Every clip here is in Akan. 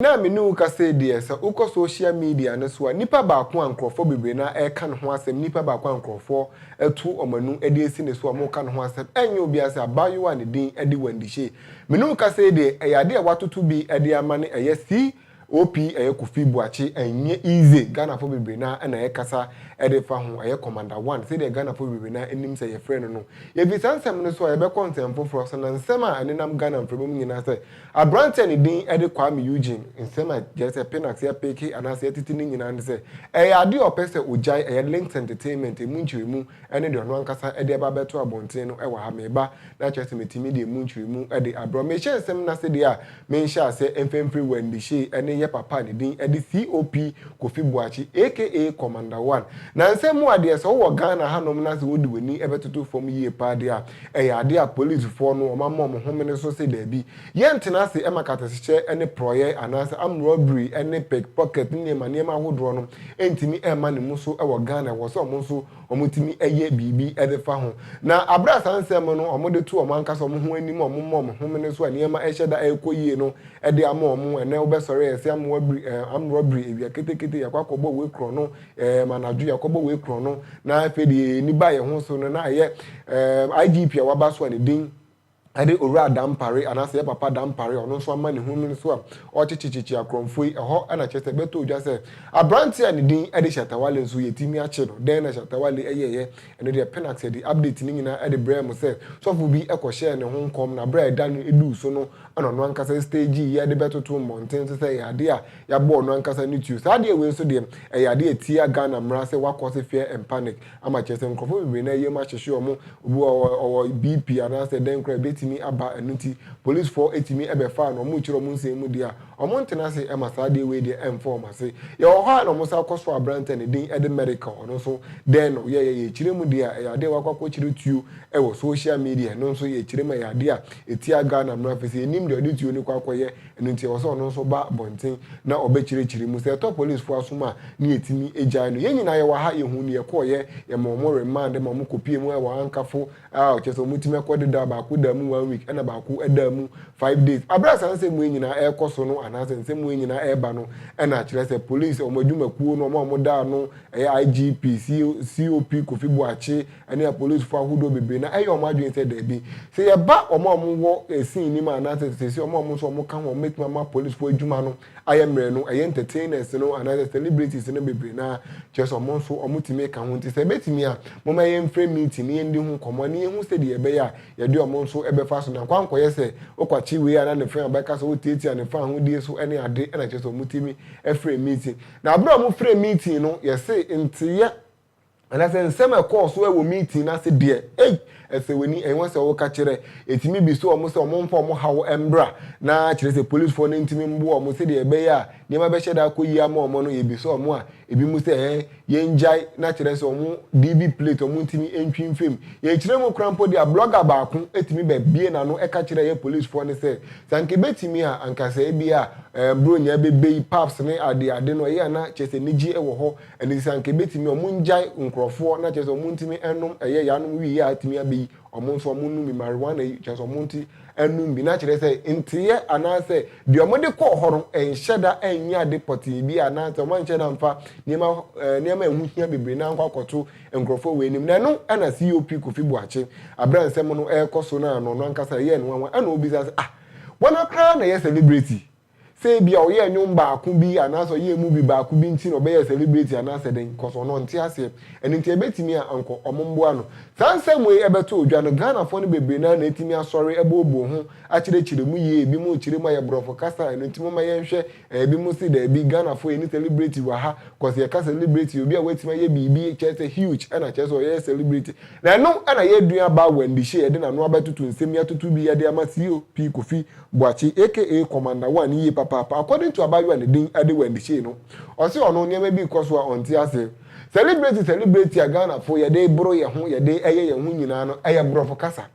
Na me ne wo kasa yi deɛ, sɛ wokɔ social media no so a, nipa baako a nkurɔfoɔ bebree no ara reka ne ho asɛm, nipa baako a nkurɔfoɔ atu wɔn ano de asi ne so a wɔreka ne ho asɛm, ɛnyɛ obiara sɛ abaayewa a ne din de Wendy Shay. Me ne wo kasa yi deɛ, ɛyɛ adeɛ a wɔatoto bi de ama no, ɛyɛ C. OP ɛyɛ Kofi Boakye ɛnyɛ Ize Ghanafo bebree no ara na ɛkasa de fa ho ɛyɛ Commander One sɛdeɛ Ghanafo bebree no ara nim sɛ yɛfrɛ no no. Yɛfiri saa nsɛm no so a yɛbɛkɔ nsɛm foforɔ so na nsɛm a ɛnenam Ghana mframa mu nyinaa sɛ aberanteɛ a ne din de Kwame Eugene nsɛm a gyɛrɛ sɛ Pinax yɛpeke anaasɛ yɛtete no nyinaa ne sɛ ɛyɛ adeɛ a ɔpɛ sɛ ɔgyae ɛyɛ Links Entertainment ɛmu nkyerɛmu ne deɛ ɔno ankasa de aba abɛto abɔntene no wɔ ha meba na kyerɛ sɛ mɛtumi de ɛmu nkyerɛmu de abrɛ wo. Mehyɛ nsɛm no ase deɛ a Me nhyɛase mfemfere wɔ Ndishey ne yɛ papa a ne din de COP Kofi Boakye aka Commander One. Nansɛ mu adeɛ sɛ wowɔ Ghana hanom na sɛ wode w'ani bɛtoto fam yie paa deɛ a, ɛyɛ adeɛ a polisfoɔ no wɔama wɔn homene so se daabi. Yɛntena ase ma kasahyɛ ne porɔeɛ anaasɛ armed robbery ne pickpocket ne nneɛma nneɛma ahodoɔ no ntumi mma ne mu so wɔ Ghana. Ɛwɔ sɛ wɔn nso wɔtumi yɛ biribi de fa ho. Na bere a saa nsɛm no wɔde to wɔn ankasa wɔn ho anim a wɔma wɔn homene so a nneɛma hyɛ da rekɔ yie no de ama wɔn. Ɛnnɛ wobɛsɔre a, yɛse amoa biri, ɛɛ, ammorɔ biri, awia ketekete, yɛakɔ akɔbɔ wei korɔno, ɛɛm, anadwo yɛakɔbɔ wei korɔno, na afei de yɛn ani ba yɛn ho so no, na ɛyɛ, ɛɛm, IGP a waba so a ne din. ne Owura Dampare anaasɛ yɛn Papa Dampare a ɔno nso ama ne ho no so a ɔkyekyekyekye akorɔmfo yi, ɛhɔ na kyerɛ sɛ ɛbɛtɔ ogya sɛ aberante a ne din de Shatta Wale nso yɛatumi akye no. Dɛn na Shatta Wale yɛeɛ? Ɛno deɛ Pinax de update no nyinaa de brɛɛ mo sɛ sɔfo bi kɔhyɛɛ ne ho nkɔm na berɛ a ɛda no duu so no na ɔno ankasa stagee yɛ de bɛtoto mmɔnten so sɛ ɛyɛ adeɛ a yɛabɔ ɔno ankasa ne tuo. Saa adeɛ wei nso deɛ ɛyɛ adeɛ a ɛtia Ghana mmara sɛ wakɔ so fear and panic ama kyerɛ sɛ nkurɔfoɔ bebree na yam ahyehye wɔn, obi wɔ hɔ a ɔwɔ BP anaasɛ dɛn koraa ɛbɛtumi aba, ɛno nti polisfoɔ ɛtumi ɛbɛfaa no, wɔrekyerɛ wɔn nsɛm mu deɛ a, wɔntena ase ɛma saa adeɛ wei deɛ ɛmfa wɔn ase. Yɛwɔ hɔ a na wɔsan kɔ so aberanteɛ a ne din ɛde Merical, ɔno nso dɛn na ɔyɛeɛ, yɛkyerɛ mu deɛ a ɛyɛ adeɛ a wakɔ akɔkyerɛ tuo ɛwɔ social media, ɛno nso yɛkyerɛ mu a ɛyɛ adeɛ a ɛtia Ghana mmara, firi sɛ yɛnnim deɛ ɔde tuo no kɔ akɔyɛ, Ɛno nti ɛwɔ sɛ ɔno nso ba abɔnten na ɔbɛkyerɛkyerɛ mu. Sɛ ɛtɔ polisfoɔ asom a, na yɛtumi gyae no. Yɛn nyinaa yɛwɔ ha, yɛhuu nea ɛkɔeɛ. Yɛmaa wɔn remand ma wɔkɔpuee mu wɔ Ankafo. Aww, kyerɛ sɛ wɔtumi akɔ dedaw, baako daa mu one week ɛnna baako daa mu five days. Bere a saa nsɛm wei nyinaa rekɔ so no anaasɛ nsɛm wei nyinaa reba no, ɛnna kyerɛ sɛ polis, wɔn adwumakuo no, wɔn a wɔda ano, ɛyɛ IGP, COP Kofi Boakye, ne apolisifo ahodoɔ bebree na ɛyɛ wɔn adwene sɛ daabi, sɛ yɛba wɔn a wɔwɔ scene no mu anaasɛ seesei wɔn a wɔn nso wɔka ho a wɔbɛtumi ama apolisifo adwuma no ayɛ mmerɛ no, ɛyɛ entertainers no anaasɛ celebrities no bebree no ara, kyerɛ sɛ wɔn nso wɔtumi ka ho. Nti sɛ ɛbɛtumi a, momma yɛmfrɛ meeting na yɛndi ho nkɔmmɔ na yɛhu sɛdeɛ ɛbɛyɛ a yɛde wɔn nso bɛfa so na nkɔankɔyɛ sɛ wokwakye wei a na ne fã bɛka sɛ wotiatia ne fã ahodie so ne ade na kyerɛ sɛ wɔtumi frɛ meeting. Na berɛ a wɔfrɛ meeting no, yɛse nteeɛ. Anasɛ nsɛm a ɛkɔɔ so wɔ meeting no ase deɛ, ei, ɛsɛ w'ani, ɛnyɛ sɛ woka kyerɛ. Ɛtumi bisa wɔn sɛ wɔmfa wɔn haw mmra, na kyerɛ sɛ polisfoɔ no ntumi mmoa wɔn sɛdeɛ ɛbɛyɛ a nneɛma bɛhyɛ da akɔ yie ama wɔn no, yɛbisa wɔn a, ebinom sɛ ɛɛ, yɛngyae, na kyerɛ sɛ wɔn DV plate wɔntumi ntwi mfam. Yɛkyerɛ mu koraa mpo de a, blogger baako tumi bɛbue n'ano ka kyerɛ yɛn polisfoɔ no sɛ, sɛ anka ɛbɛtumi a, anka sɛ ebia ɛɛ, Buronya bɛbɛ yi, pubs ne adeade no, ɛyɛ a na kyerɛ sɛ anigyeɛ wɔ hɔ, Ɛno nti sɛ anka ɛbɛtumi a, wɔngyae nkorɔfoɔ na kyerɛ sɛ wɔntumi nnom ɛyɛ yaanom wii yi a atumi abɛyi wɔn nso wɔn nnom bi, marijuana yi, kyerɛ sɛ wɔnte nnom bi, na kyerɛ sɛ nteeɛ anaa sɛ deɛ wɔde kɔɔ hɔ no nhyɛ da nyɛ ade pɔtee bi a anaa sɛ wɔn anhyɛ da mfa nneɛma nneɛma a ɛho hia bebree na ankɔ akɔto nkorɔfoɔ wɔ anim. Na ɛno na COP Kofi Boakye, aberɛ a nsɛm no ɛrekɔ so no a na ɔno ankasa ɛyɛɛ no nwanwa ɛna ɔbisa sɛ ah, wɔn ara koraa na ɛyɛ celebrity Sɛ ebia ɔyɛɛ nnwom baako bi anaasɛ ɔyɛɛ movie baako bi nti na ɔbɛyɛɛ celebrity anaasɛ dɛn, cos ɔno ɔnte aseɛ. Ɛno nti ɛbɛtumi a anka ɔmo mboa no. Saa nsɛm wei ɛbɛto odwa no, Ghanafoɔ no bebree no ara na atumi asɔre abooboo ho akyerɛkyerɛ mu yie. Ebinom rekyerɛ mu ayɛ brɔfo kasa, ɛno nti momma yɛnhwɛ. Ɛɛ ebinom se daabi, Ghanafoɔ yɛnni celebrity wɔ ha, cos yɛka celebrity yɛ obi a watumi ayɛ biribi, kyerɛ sɛ huge, ɛna kyerɛ sɛ ɔyɛɛ celebrity. Na ɛno ɛna yɛn nuabaa Wendy Shay de n'ano abɛtoto nsɛm yi atoto bi de ama COP Kofi Boakye aka Commander One yie papaapa according to abaayewa a ne din de Wendy Shay no, ɔse ɔno nneɛma bi rekɔ so a ɔnte ase. Celebrate celebrate a Ghanafoɔ yɛde boro yɛn ho, yɛde yɛ yɛn ho nyinaa no ɛyɛ borɔfo kasa.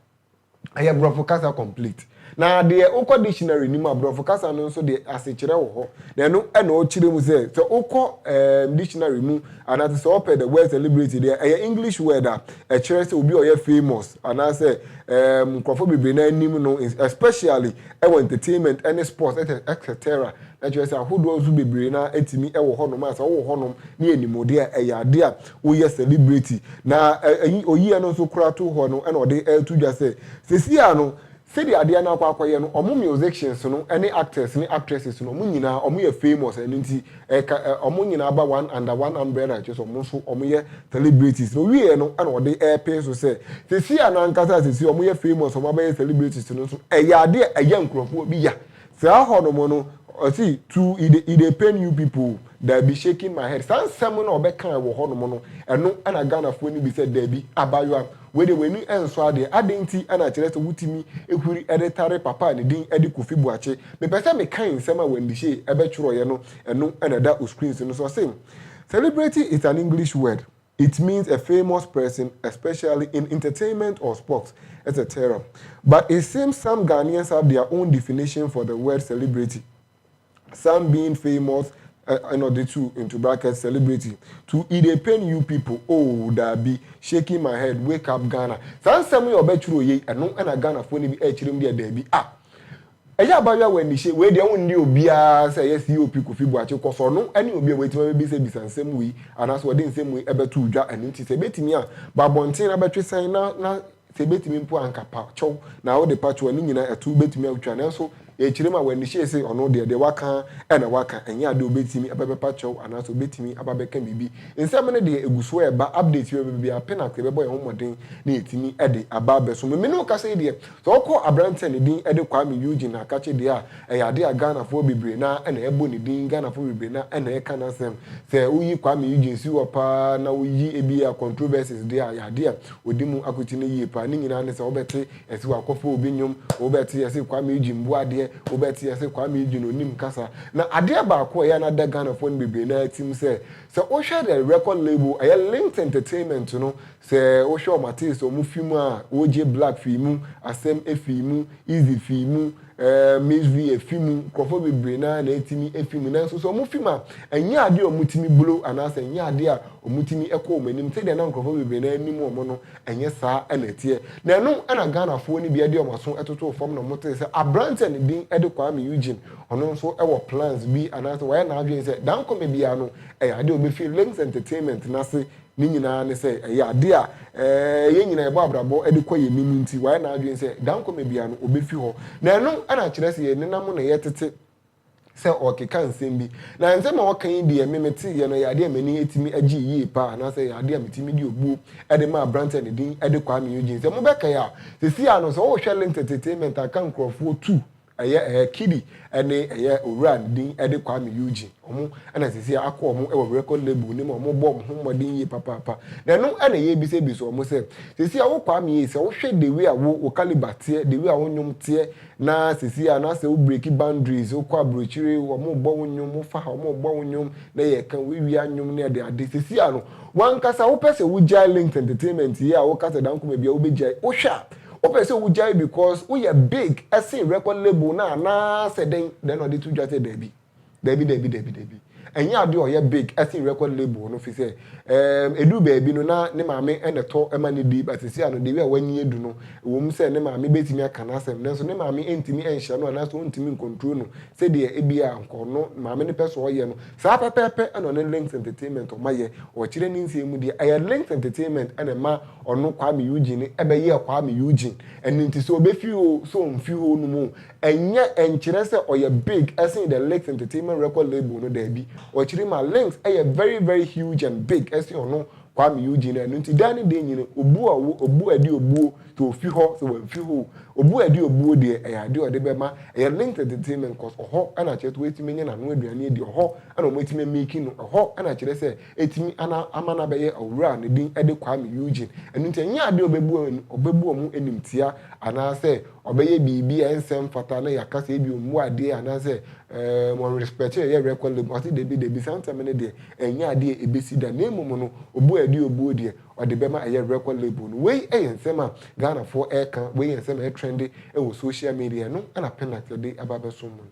Ɛyɛ borɔfo kasa complete. Na deɛ wokɔ dictionary no mu a borɔfo kasa no nso deɛ asekyerɛ wɔ hɔ. Na ɛno na ɔkyerɛ mu sɛ sɛ wokɔ ɛɛm dictionary mu anaasɛ sɛ wɔpɛ the word celebrate deɛ ɛyɛ English word a, Ɛkyerɛ sɛ obi a ɔyɛ famous anaasɛ ɛɛm nkorɔfoɔ bebree naa nim no especially ɛwɔ entertainment ɛne sports ɛtɛ etc na kyerɛ sɛ ahodoɔ nso bebree naa ɛtumi ɛwɔ hɔ nom a sɛ ɔwɔ hɔ nom ne yɛ nim ɔdeɛ a ɛyɛ adeɛ a woyɛ celebrity na ɛyi oyiɛ no nso koraa to hɔ no ɛna ɔde ɛɛto dwa sɛ sɛsi a no Sɛdeɛ adeɛ no akɔ akɔyɛ no ɔmo musicians no ne actors ne actresses no ɔmo nyinaa ɔmo yɛ famous ɛno nti ɛka ɔmo nyinaa ba one under one umbrella kyerɛ sɛ ɔmo nso ɔmo yɛ celebrities na ɔwieɛ no ɛna ɔde ɛɛpee so sɛ seisei a no ankasa a seisei ɔmo yɛ famous ɔmo abɛyɛ celebrities no nso ɛyɛ adeɛ a ɛya nkorɔfoɔ bi ya Saa hɔ nom no, ɔse to it dey it dey pain you people? Daabi, shaking my head. Saa nsɛm no a ɔbɛkae wɔ hɔ nom no, ɛno na Ghanafoɔ no bisa, daabi, abaayewa, wei deɛ w'ani nsɔ adeɛ, adɛn nti na ɛkyerɛ sɛ wotumi huri de tare papa a ne din de Kofi Boakye? Mepɛ sɛ mekae nsɛm a Wendy Shay bɛtwerɛeɛ no, ɛno na ɛda o screens no so. Ɔse, Celebrity is an English word. It means a famous person especially in entertainment or sports etc but it seems some Ghanaians have their own definition for the word celebrity some being famous ɛna ɔde to into bracket celebrity to e dey pain you people oh daabi shaking my head wake up Ghana saa nsɛm yi a ɔbɛtwerɛ yei ɛno ɛna Ghanafoɔ no bi ɛkyerɛ mu deɛ daabi ah Ɛyɛ abaayewa w'anihyɛ wei deɛ wonne obiara sɛ ɛyɛ COP Kofi Boakye kɔsɔ no ne obi a watumi abɛbisa bisa nsɛm wei anaasɛ ɔde nsɛm wei ɛbɛtoo dwa ɛno nti sɛ ɛbɛtumi a bɔ abɔnten na bɛtwe sɛn na na sɛ ɛbɛtumi mpo a anka pa kyɛw na wode pa kyɛw a ne nyinaa ɛto wobɛtumi atwa nanso yɛkyerɛ mu a w'anihyɛ se ɔno deɛ deɛ waka ara na waka ɛnyɛ adeɛ a ɔbɛtumi ɛbɛ bɛpa kyɛw anaasɛ ɔbɛtumi aba bɛka biribi nsɛm no deɛ ɛgu so ɛreba updates bɛba biara pɛ na sɛ yɛbɛbɔ yɛn ho mmɔden na yɛtumi de aba abɛsom no me ne wo kasa yi deɛ Sɛ wokɔ aberanteɛ a ne din de Kwame Eugene Nakakye deɛ a, ɛyɛ adeɛ a Ghanafoɔ bebree no ara na ɛbɔ ne din, Ghanafoɔ bebree no ara na ɛka n'asɛm. Sɛ woyi Kwame Eugene si hɔ pa ara na woyi ebia controversies deɛ a, ɛyɛ adeɛ a wɔdi mu akotene yie pa ara. Ne nyinaa ne sɛ wobɛte yɛse wɔakɔfa obi nnwom, wobɛte yɛse Kwame Eugene mmoa adeɛ, wobɛte yɛse Kwame Eugene ɔnnim kasa. Na adeɛ baako a ɛyɛ a na ada Ghanafoɔ no bebree no ara tirim sɛ, sɛ wohwɛ the record label, ɛyɛ Linked Entertainment no, Sɛ wohwɛ wɔn ates wɔn fi mu a, OJ Black fii mu, Asem fii mu, Eazy fii mu, eh, Miss V fi mu, nkurɔfoɔ bebree no ara na ɛtumi fi mu. Nanso sɛ wɔfi mu a, ɛnyɛ adeɛ a wɔtumi blow anaasɛ ɛnyɛ adeɛ a wɔtumi kɔ wɔn anim sɛdeɛ na nkurɔfoɔ bebree no ara nim wɔn no, ɛnyɛ saa na ɛteɛ. Na ɛno na Ghanafoɔ no bi de wɔn aso totoo fam na wɔtee sɛ aberanteɛ a ne din de Kwame Eugene, ɔno nso wɔ plans bi anaasɛ wayɛ n'adwene sɛ dankɔmɛ biara no, ɛyɛ adeɛ a ɔbɛfiri Lynx Entertainment no ase Ne nyinaa ne sɛ, ɛyɛ ade a yɛn nyinaa yɛbɔ abrabɔ de kɔ yɛn anim nti, wayɛ n'adwene sɛ dankɔma biara no, obefi hɔ. Na ɛno na kyerɛ sɛ yɛn nna mu na yɛtete sɛ ɔrekeka nsɛm bi. Na nsɛm a ɔka yi deɛ, me meteeɛ no, ɛyɛ adeɛ a m'ani atumi agyee yie paa, anaasɛ ɛyɛ adeɛ a metumi de obuo de maa aberanteɛ a ne din de Kwame Eugene. Sɛ mobɛkae a, seesei ara no, sɛ wohwɛ LinkedIntainment a, ka nkurɔfoɔ tu Ɛyɛ ɛɛ Kidi ɛne ɛyɛ owura no din ɛde Kwame Eugene. Ɔmo ɛna sɛsɛɛ akɔ ɔmo ɛwɔ record label no mu a ɔmo bɔ ɔmo ho mmɔden yie papaapa. Na ɛno ɛna yɛɛbisa bisa ɔmo sɛ, sɛsɛɛ a wo Kwame ei sɛ wo hwɛ the way a wo wo calibre teɛ, the way a wo nnwom teɛ na sɛsɛɛ a na sɛ wo breaki boundaries wo kɔ abrokyire ɔmo bɔ wo nnwom, wo fa ha ɔmo bɔ wo nnwom na yɛɛka wo awia nnwom ne ade ade sɛsɛɛ a no W'ankasa wopɛ sɛ wogyae linked entertainment yi a woka sɛ dan koma biaa wobɛgyae? Wohwɛ a wopɛ sɛ wogyae because woyɛ big sen record label no anaa sɛ dɛn? Then ɔde to dwa sɛ daabi. Daabi daabi daabi daabi. Ɛnyɛ adeɛ a ɔyɛ big sen record label no fi sɛ ehm ɛduru baabi no na ne maame na ɛtɔ ma no di but seesei ano the way a w'ani adu no ɛwom sɛ ne maame bɛtumi aka n'asɛm nanso ne maame ntumi nhyɛ no anaa sɛ ɔntumi ncontrol no sɛdeɛ ɛbiaa nka ɔno maame no pɛ sɛ ɔyɛ no Saa pɛpɛɛpɛ na ɔne Links Entertainment ɔma yɛ ɔkyerɛ ne nsɛm mu deɛ ɛyɛ Links Entertainment na ɛma ɔno Kwame Eugene no bɛyɛɛ Kwame Eugene. Ɛno nti sɛ ɔbɛfi hɔ oo, sɛ ɔmfi hɔ nom oo, ɛnyɛ ɛnkyerɛ sɛ ɔyɛ big sen the Links Entertainment record label no, daabi. Ɔkyerɛ mu a, Links yɛ very very huge and big sen ɔno Kwame Eugene, Ɛno nti, dɛn ne dɛn nyini? Obuo a ɔwɔ obuo a ɛde obuo, sɛ ɔfi hɔ, sɛ wamfi hɔ o, obuo a ɛde obuo deɛ, ɛyɛ adeɛ a ɔde bɛma, ɛyɛ linked entertainment cos ɔhɔ na akyerɛ sɛ watumi anya n'ano aduane adi, ɔhɔ na wɔatumi amiki no, ɛhɔ na akyerɛ sɛ atumi ana ama no abɛyɛ ɔwura a ne din de Kwame Eugene. Ɛno nti, ɛnyɛ adeɛ a ɔbɛbu wɔn ɔbɛbu wɔn animtia anaasɛ ɔbɛyɛ biribi a ɛnsɛ mfata na yɛaka sɛ ebia ɔmmu adeɛ anaasɛ ɛɛm ɔnrespɛte ɛyɛ record label, ɔse dabi dabi saa ntɛm no deɛ, Ɛnyɛ ade a ɛbɛsi da, na mmom no, obuo a ɛde obuo deɛ, ɔde bɛma ayɛ record label no. Wei yɛ nsɛm a Ghanafoɔ reka, wei yɛ nsɛm a ɛtrɛnde wɔ social media, ɛno na Penax de aba abɛsom mo no.